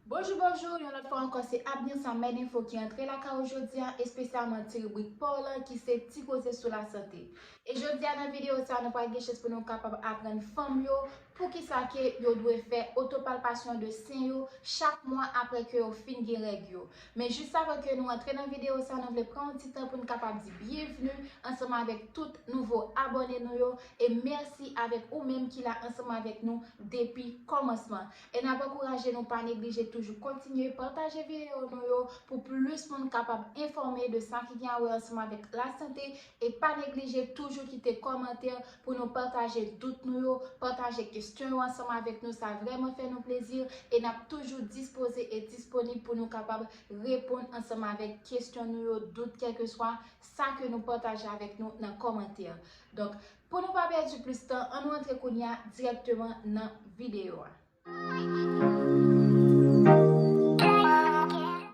Bonjou bonjou yon lòt fwa ankò se Abner sa mèd enfo ki antre lakay ou jodia espesyalman ti ribrik pa w lan ki se ti koze sou lasante e jodia nan video sa nou pral gen chans pou nou kapab aprann fanm yo poukisa ke yo dwe fè otopalpasyon de sen yo chak mwa aprè ke yo fin gen règ yo men jis avan ke nou antre nan video sa nou vle pran yon ti tan pou nou kapab di byenvni ansanm avèk tout nouvo abòne nou yo e mèsi avèk ou menm ki la ansanm avèk nou depi kòmansman. E n ap ankouraje nou pa neglije toujou kontinye pataje videyo nou yo pou plis moun kapab enfòme de sa ki gen a wè ansanm avèk lasante e pa neglije toujou kite kòmantè pou nou pataje dout nou yo, pataje kesyon yo ansanm avèk nou sa vrèman fè nou plezi e n ap toujou dispoze e disponib pou nou kapab reponn ansanm avèk kesyon nou yo, dout kèlkeswa sa ke nou pataje avèk nou nan kòmantè. Donk. Pou nou pa pèdi plis tan, an nou antre kounye a dirèkteman nan videyo a.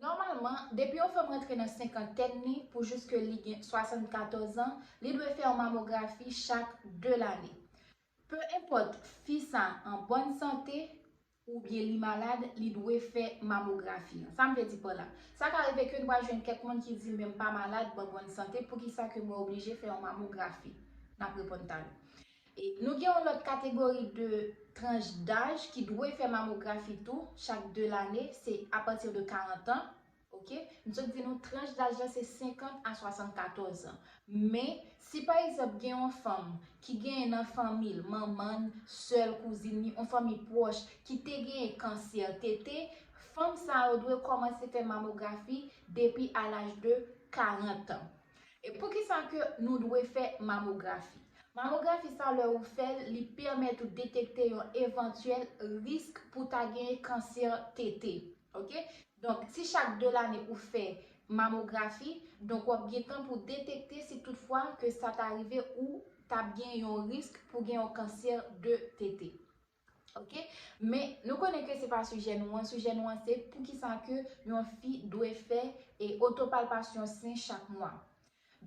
Nòmalman, depi yon fanm rantre nan senkantèn li pou jiske li gen 74 an, li dwe fè yon mamografi chak 2 lane. Pe enpòt fi sa an bòn sante oubyen li malad, li dwe fè mamografi an. Sa m vle di pa la? Sa ka rive ke n pral jwenn kèk moun ki di men m pa malad, ban bòn sante, poukisa ke mwen oblije fè yon mamografi? N ap reponn talè. E nou gen yon lòt kategori de tranch daj ki dwe fè mamografi tou, chak 2 lane, se apati de 40 an, Ok, m sot di nou tranch daj la se 50 a 74 an. Men, si pa egzanp gen yon fanm ki genyen nan fanmi l, manman l, sè l, kouzin li, yon fanmi pwòch ki te genyen kansè tete, fanm sa yo dwe kòmanse fè mamografi depi a laj de 40 an. E poukisa ke nou dwe fè mamografi? Mamografi sa lè ou fè l, li pèmèt ou detekte yon evantyèl risk pou ta genyen kansè tete. Ok donk si chak 2 lane ou fè mamografi donk wap gen tan pou detekte si tout fwa ke sa ta rive ou ta gen yon risk pou gen yon kansè de tete ok men nou konnen ke se pa sijè nou an sijè nou an se poukisa ke yon fi dwe fè e otopalpasyon sen chak mwa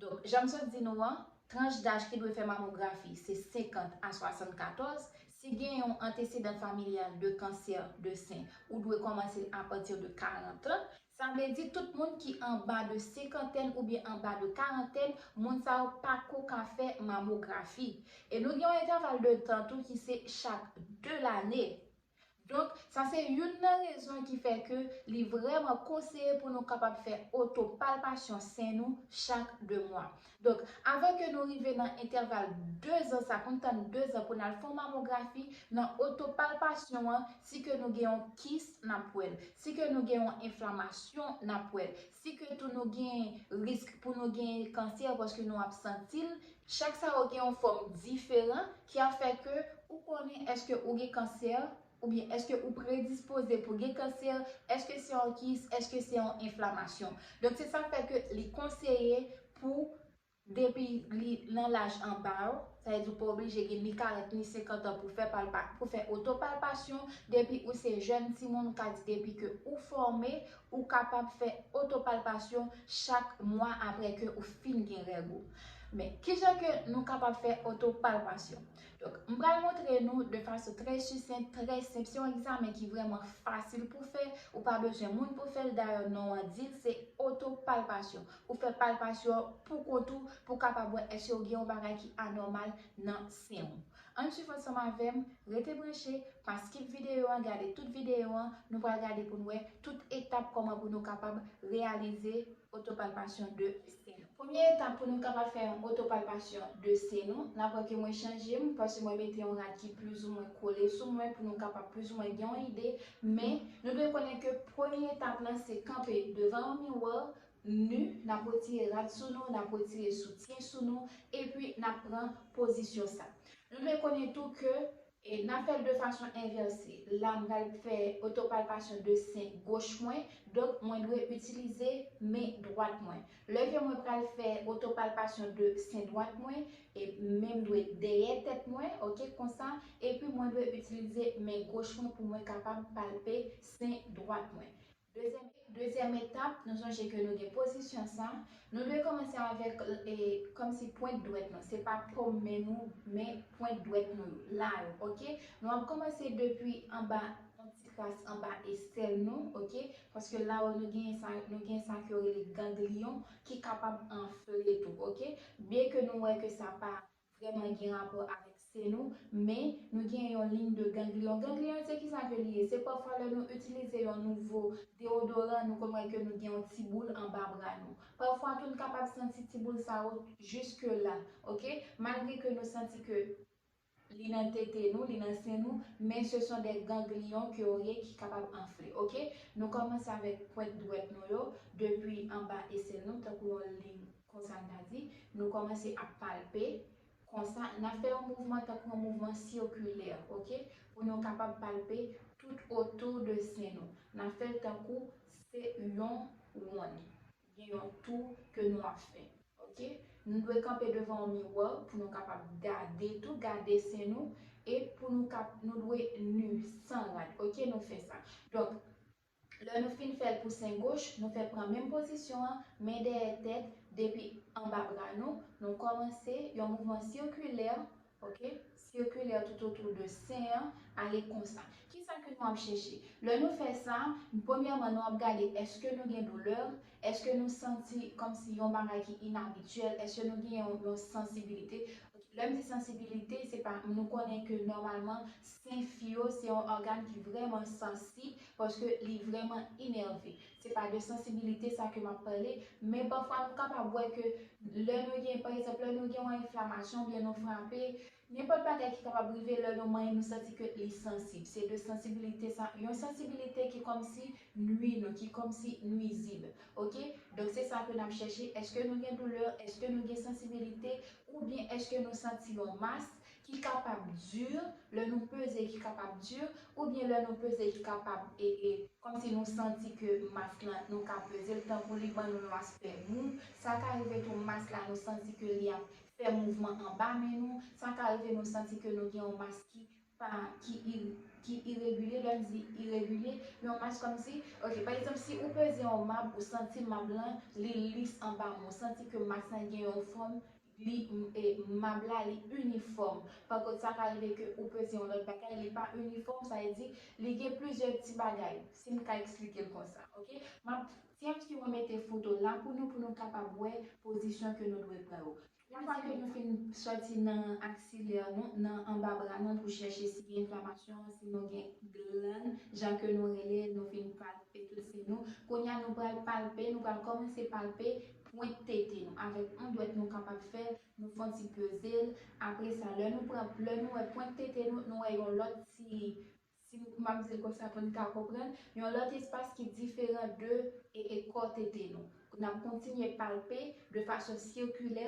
Donk, jan m sot di nou an, tranch daj ki dwe fè mamografi se 50 a 74, si gen yon antesedan familyal de kansè de sen, ou dwe kòmanse l apati de 40 an, sa vle di tout moun ki anba de senkantèn oubyen anba de karantèn, moun sa yo pa ko ka fè mamografi. E nou gen yon entèval de tan tou ki se chak 2 lane. Donk, sa se youn nan rezon ki fè ke li vrèman konseye pou nou kapab fè otopalpasyon sen nou chak 2 mwa. Donk, avan ke nou rive nan entèval 2 zan sa, pou n tann 2 zan pou n al fè yon mamografi, nan otopalpasyon an, si ke nou gen yon kis, n ap wè l. Si ke nou gen yon enflamasyon, n ap wè l. Si ke tou nou gen risk pou nou gen kansè paske nou ap santi l, Chak sa yo gen yon fòm diferan ki ap fè ke ou konnen èske ou gen kansè, oubyen èske ou predispoze pou gen kansè, èske se yon kis, èske se yon enflamasyon. Donk se sa k fè ke li konseye pou depi li nan laj anba yo, sa vle di ou pa oblije gen ni 40 ni 50 an pou fè palpa pou fè otopalpasyon, depi ou se jèn timoun ou ka di depi ke ou fòme, Ou kapab fè otopalpasyon chak mwa apre ke ou fin gen règ ou. Men, kijan ke nou kapab fè otopalpasyon? Donk, m pral montre nou de fason trè sisent, trè senp, se yon egzamen ki vrèman fasil pou fè, ou pa bezwen moun pou fè l, dayè non an di l, se otopalpasyon. Ou fè palpasyon an pou kont ou, pou w kapab wè èske ou gen yon bagay ki anòmal nan sen ou. Ann swiv ansanm avèm, rete branche, pa skip videyo an gade tout videyo an, nou pral gade poun wè tout etap kòman pou nou kapab reyalize otopalpasyon de se nou. Premye etap pou nou kapab fè yon otopalpasyon de se nou, nap wè ke mwen chanjem paske mwen mete yon rad ki plizoumwen kole sou mwen pou nou kapab plizoumwen gen yon ide men nou dwe konnen ke premye etap lan se kanpe devan yon miwò nu, n ap retire rad sou nou, n ap retire soutyen sou nou, epi n ap pran pozisyon sa. Nou dwe konnen tou ke. E n ap fè l de fason envèse. La m pral fè otopalpasyon de sen goch mwen, donk mwen dwe itilize men dwat mwen. Lè ke mwen pral fè otopalpasyon de sen dwat mwen, e men m dwe dèyè tèt mwen, ok, konsa, epi mwen dwe itilize men goch mwen pou mwen kapab palpe sen dwat mwen. Dezyèm etap, nou sonje ke nou gen pozisyon sa, nou dwe kòmanse avèk kòmsi pwent dwèt nou, se pa pom men nou, men pwent dwèt nou yo, la yo, ok? Nou ap kòmanse depi anba, yon ti kras anba estèl nou, ok? Paske la yo nou gen sa, nou gen sa ke yo rele gangliyon ki kapab anfle tou, ok? Byenke nou wè ke sa pa. vrèman gen rapò avèk se nou, men, nou gen yon ligne de ganglion. Ganglion se kisa ke li ye? Se pafwa lè nou itilize yon nouvo deodoran nou konn wè ke nou gen yon ti boul anba bra nou. Pafwa tou n kapab santi ti boul sa yo jiske la, ok? Malgre ke nou santi ke li nan tete nou, li nan sen nou, men se son dè ganglion ke yo ye ki kapab anfle, ok? Nou kòmanse avèk pwent dwèt nou yo, depi anba esen nou, tankou yon ligne. Konsa n ta di, nou kòmanse ap palpe, konsa, n ap fè yon mouvman tankou yon mouvman sikilè, ok, pou nou kapab palpe tout otou de sen nou. N ap fè l tankou se yon wonn, gen yon tou ke nou ap fè, ok. Nou dwe kanpe devan yon miwò pou nou kapab gade tou, gade sen nou, e pou nou kap, nou dwe nu, san rad, ok, nou fè sa. Donk, Lè nou fin fè l pou sen goch, nou fè pran menm pozisyon an, men dèyè tèt, depi anba bra nou, nou kòmanse yon mouvman sikilè, ok, sikilè toutotou de sen an, ale konsa. Kisa ke nou ap chèche? Lè nou fè sa, premyèman nou ap gade èske nou gen doulè, Èske nou santi kòmsi yon bagay ki inabityèl? Èske nou gen yon sansibilite? Lè m di sansibilite, se pa nou konnen ke nòmalman sen fi yo se yon ògàn ki vrèman sansib paske li vrèman inève. Se pa de sansibilite sa ke m ap pale, men pafwa nou kapab wè ke lè nou gen, pa egzanp, lè nou gen yon enflamasyon oubyen nou frape, Nenpòt bagay ki kapab rive lè yon manyen nou santi ke li sansib. Se de sansibilite sa, yon sansibilite ki kòmsi nwi nou, ki kòmsi nwizib. Ok? Donk se sa ke n ap chèche, èske nou gen doulè, èske nou gen sansibilite, oubyen èske nou santi yon mas ki kapab dur, lè nou peze ki kapab dur, oubyen lè nou peze ki kapab e, e, kòmsi nou santi ke mas lan nou ka peze l tankou li ban nou yon aspè mou. Sa ka rive tou mas la nou santi ke li ap fè mouvman anba men nou, sa ka rive nou santi ke nou gen yon mas ki pa, ki i, ki iregilye, lè m di iregilye, yon mas kòmsi, ok, pa egzanp si ou peze yon mab ou santi mab lan li lis anba men w, ou santi ke mas lan gen yon fòm, li, e, mab la li inifòm, pa kont sa ka rive ke ou peze yon lòt bagay li pa inifòm, sa vle di li gen plizyè ti bagay, si m ka eksplike l konsa, ok, m ap. Tièms ki remete foto la pou nou pou nou kapab wè pozisyon ke nou dwe pran yo. Yon fwa ke nou fin sòti nan aksilè nou, nan anba bra nou pou chèche si gen enflamasyon, si nou gen glann, jan ke nou rele, nou fin palpe tout si nou, kounye a nou pral palpe, nou pral kòmanse palpe pwent tete nou. Avèk yon dwèt nou kapab fè l, nou fon ti peze l, apre sa lè nou pran, lè nou wè pwent tete nou, nou wè yon lòt ti Si m ap di l konsa pou n ka konprann, yon lòt espas ki diferan de e kò tete nou. N ap kontinye palpe de fason sikilè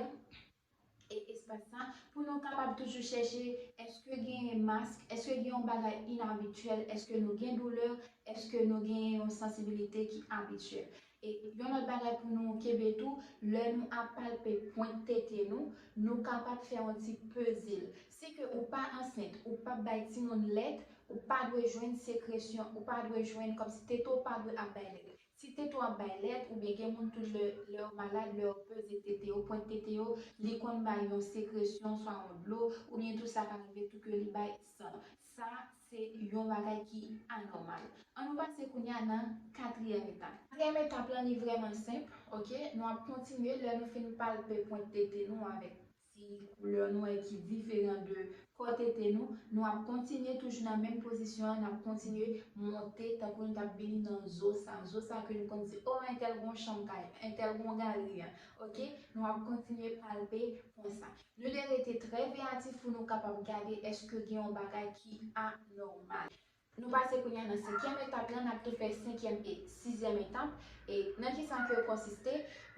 e espas sa pou nou kapab toujou chèche èske genyen mask, èske gen yon bagay inabityèl, èske nou gen doulè, èske nou genyen yon sansibilite ki abityèl. E yon lòt bagay pou nou kenbe tou, lè nou ap palpe pwent tete nou, nou kapab fè yon ti peze l. Si ke ou pa ansent, ou pap bay timoun lèt, ou pa dwe jwenn sekresyon, ou pa dwe jwenn, kòmsi tete w pa dwe ap bay lèt. Si tete w ap bay lèt, oubyen gen moun tou lè, lè yo malad, lè yo peze tete yo, pwent tete yo, li konn bay yon sekresyon, swa yon dlo, oubyen tou sa ka rive tou ke li bay san. Sa se yon bagay ki anòmal. An nou pase kounye a nan katriyèm etap. Katriyèm etap lan li vrèman senp ok. Nou ap kontinye lè nou fin palpe pwent tete nou avèk ti koulè nwè ki diferan de kò tete nou. Nou ap kontinye toujou nan menm pozisyon an n ap kontinye monte tankou nou t ap vini nan zo sa. Zo sa ke nou konn di o entèl gen yon chanm kay entèl gen yon galri an ok. Nou ap kontinye palpe konsa. Nou dwe rete trè veyatif pou nou kapab gade èske gen yon bagay ki anòmal. Nou pase kounye a nan senkyèm etap lan, n ap tou fè senkyèm e sizyèm etap. E nan ki sa ke yo konsiste?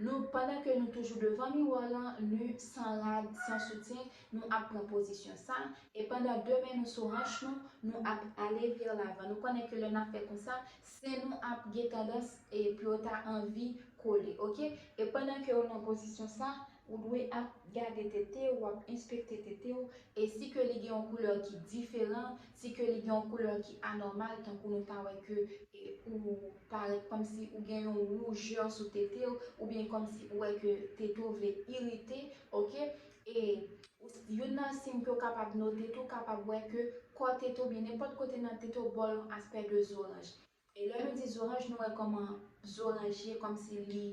Nou, pandan ke nou toujou devan miwò lan, nu, san rad, san soutyen, nou ap pran pozisyon sa, e pandan de men nou sou hanch nou, nou ap ale vè lavan. Nou konnen ke lè n ap fè konsa, sen nou ap gen tandans e pou yo ta anvi kole. Ok? E pandan ke ou nan pozisyon sa, Ou dwe ap gade tete ou, ap enspekte tete ou, e si ke li gen yon koulè ki diferan, si ke li gen yon koulè ki anòmal, tankou nou ta wè ke ou parèt kòmsi ou gen yon woujè sou tete ou, oubyen kòmsi ou wè ke tete ou vle irite, ok, e youn nan siy ke ou kapab note tou, ou kapab wè ke kò tete ou, oubyen nenpòt kote nan tete ou ba w yon aspè de zoranj. E lè nou di zoranj nou wè kòman zoranj ye kòmsi li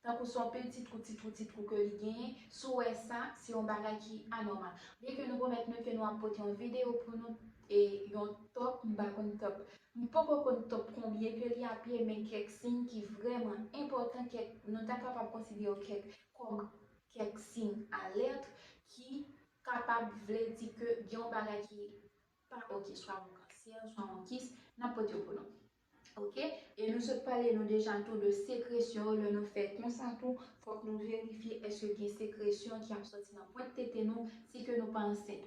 tankou son peti twou ti twou ti twou ke li genyen si w wè sa se yon bagay ki anòmal byen ke nou pwomèt nou ke nou ap pote yon videyo pou nou e yon top m pa konn top m poko konn top konbyen ke li ap ye men kèk siy ki vrèman enpòtan kèk nou ta kapab konsidere yo kèk kòm kèk siy alèt ki kapab vle di ke gen yon bagay ki Pa ok swa bon kansè ou swa bon kis nap pote yo pou nou ok e nou sot pale nou deja tou de sekresyon yo lè nou fè konsa tou fòk nou verifye èske gen sekresyon ki ap sòti nan pwent tete nou si ke nou pa ansent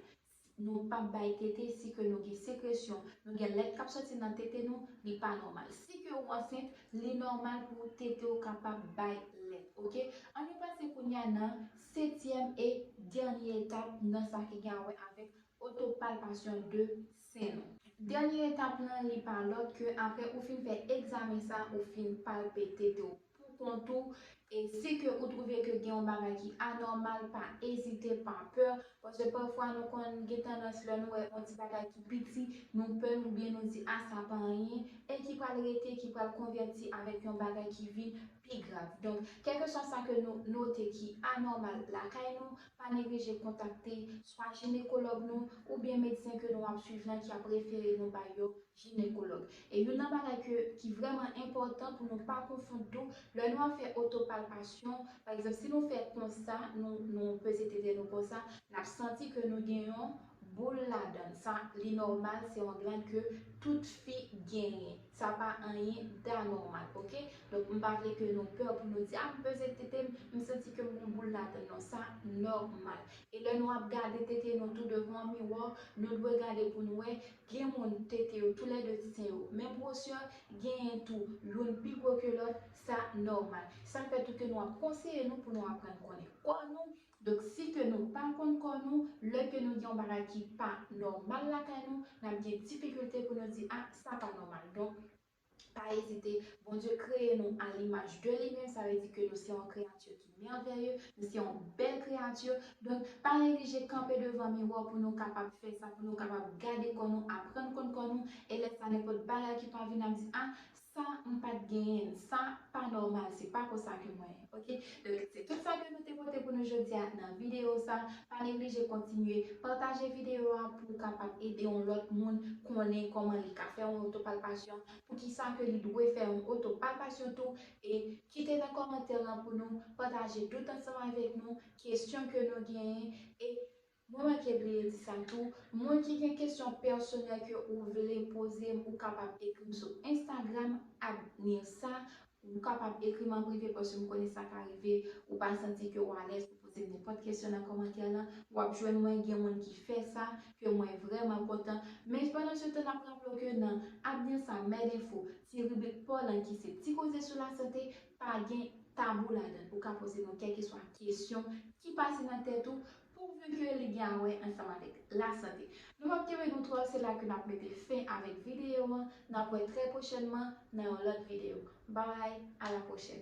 nou pap bay tete si ke nou gen sekresyon nou gen lèt kap sòti nan tete nou li pa nòmal si ke ou ansent li nòmal pou tete ou kapab bay lèt ok an nou pase kounya nan setyèm e dènye etap nan sa ki gen a wè avèk Oto palpasyon 2, sen nou. Dènye etap lan li pa lòt ke apre ou fin fè egzamen sa ou fin palpe tete w pou kont ou e si ke ou twouve ke gen yon bagay ki anòmal pa ezite pa pè paske pafwa nou konn gen tandans lè nou wè yon ti bagay ki piti nou pè l oubyen nou di a sa pa anyen e ki pral rete ki pral konvèti avèk yon bagay ki vin pi grav. Donk, kèlkeswa sa ke nou note ki anòmal lakay nou, pa neglije kontakte swa jinekològ nou oubyen medsen ke nou ap swiv lan ki ap refere nou bay yo jinekològ. E youn nan bagay ke ki vrèman enpòtan pou nou pa konfond tou, lè nou ap fè otopalpasyon, pa egzanp si nou fè konsa, nou nou peze tete nou konsa, n ap santi ke nou gen yon boul ladan l. Sa li nòmal, se yon glànd ke tout fi genyen. Sa pa anyen d'anormal ok. Donk m pa vle ke nou peur pou nou di ah m peze tete m, m santi ke m gon boul ladann non sa normal. E lè nou ap gade tete nou tou devan miroir nou dwe gade pou n wè gen moun tete yo tou lè 2 ti sen yo menm grosè genyen tou youn pi gwo ke lòt sa normal. Sa fè tou ke nou ap konseye nou pou nou aprann konnen kò nou Donk si ke nou pa konn kò nou, lè ke nou gen yon bagay ki pa nòmal lakay nou, n ap gen difikilte pou nou di a sa pa nòmal. Donk, pa ezite, Bondye kreye nou a limaj de li menm, sa vle di ke nou se yon kreyati ki mèvèye, nou se yon bèl kreyati, donk pa neglije kanpe devan miwa w pou nou kapab fè sa, pou nou kapab gade kò nou, aprann konn kò nou, e lè sa nenpòt bagay ki pa vin n ap di a Sa m pa t genyen. Sa pa nòmal. Se pa konsa ke mwen. Ok. Donk, se tout sa ke nou te pote pou nou jodi a nan videyo sa. Pa neglije kontinye pataje videyo a pou ou kapab ede yon lòt moun konnen kòman li ka fè yon otopalpasyon, poukisa ke li dwe fè yon otopalpasyon tou. E kite nan kòmantè lan pou nou pataje tout ansanm avèk nou kesyon ke nou genyen. E Mwen manke bliye di sa tou, moun ki gen kesyon pèsonèl ke ou vle poze m ou kapab ekri m sou Instagram at Nirsa, ou kapab ekri m an prive paske m konnen sa ka rive ou pa santi ke w alèz pou poze m nenpòt kesyon nan kòmantè lan, w ap jwenn mwen gen moun ki fè sa, ke mwen vrèman kontan, men pandan se tan n ap raple w ke nan At Nirsa Med Info, ti ribrik pa w lan ki se ti koze sou lasante, pa gen tabou ladan l, ou ka poze mwen kèlkeswa kesyon ki pase nan tèt ou, Pouvi ke li gen a wè ansanm avèk lasante. Nou pap kenbe nou twò se la ke nap mete fen avèk videyo an nap wè trè pwochènman nan yon lòt videyo. Babay a la pwochèn.